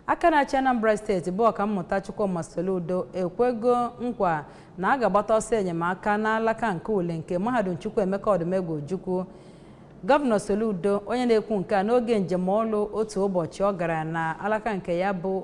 aka na-achị anambra steeti bụ ọkammụta chukwuma soludo ekwego nkwa na a ga-agbata ọsọ enyemaka n'alaka nke uli nke mahadum chukwuemeka odumegwu ojukwu gọvanọ soludo onye na-ekwu nke a n'oge njem ọlụ otu ụbọchị ọ gara na alaka nke ya bụ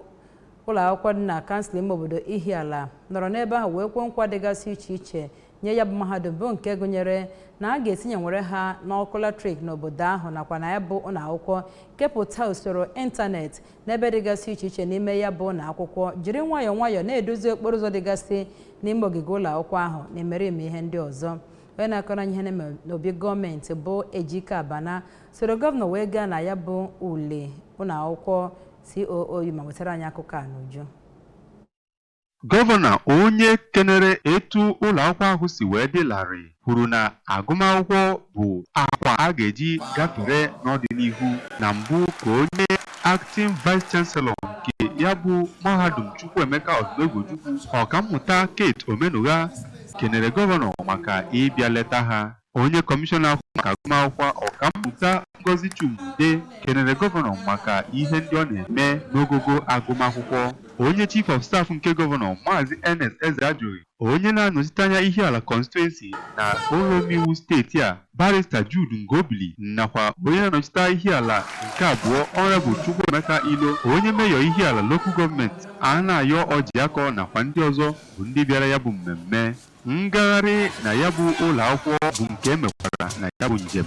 ụlọ akwụkwọ dị na kansụl ime obodo ihiala nọrọ n'ebe ahụ wee kwe nkwa dịgasị iche iche nye ya bụ mahadum bụ nke gụnyere na a ga-etinyenwere ha n'ọkụ latrik n'obodo ahụ nakwa na ya bụ ụlọ akwụkwọ kepụta usoro ịntanetị n'ebe dịgasị iche iche n'ime ya bụ ụlọ akwụkwọ jiri nwayọọ nwayọọ na-edozi okporo ụzọ dịgasị n'ime ogige ụlọ akwụkwọ ahụ na imerime ihe ndị ọzọ onye na-akọrọ anyị ihe na-eme n'obi gọọmenti bụ Ejike Abana soro gọvanọ wee gaa na ya bụ Uli ụlọ akwụkwọ COOU ma wetara anyị akụkọ a n'uju Gọvanọ onye kenere etu ụlọakwụkwọ ahụ si wee dị larịị kwuru na agụmakwụkwọ bụ akwa a ga-eji gafere n'ọdịnihu. Na mbụ ka onye Acting Vice Chancellor nke ya bụ mahadum Chukwuemeka Odumegwu-Ojukwu, Ọkammụta Kate Omenugha kenere Gọvanọ maka ịbịa leta ha. Onye kọmishọna na-ahụ maka agụmakwụkwọ Ọkammụta Ngozi Chuma-Udeh kenere gọvanọ maka ihe ndị ọ na-eme n'ogogo agụmakwụkwọ. Onye Chief of Staff nke gọvanọ Maazị Ernest Ezeajughi, onye na-anọchite anya Ihiala Constituency na ụlọomeiwu steeti a, Barrister Jude Ngobili nakwa onye na-anọchite Ihiala nke abụọ Honourable Chukwuemeka Ilo, onye meyọ Ihiala Local Gọọmenti, Anayo Orjiakor nakwa ndị ọzọ bụ ndị bịara ya bụ mmemme. Ngagharị na ya bụ ụlọakwụkwọ bụ nke e mekwara na ya bụ njem.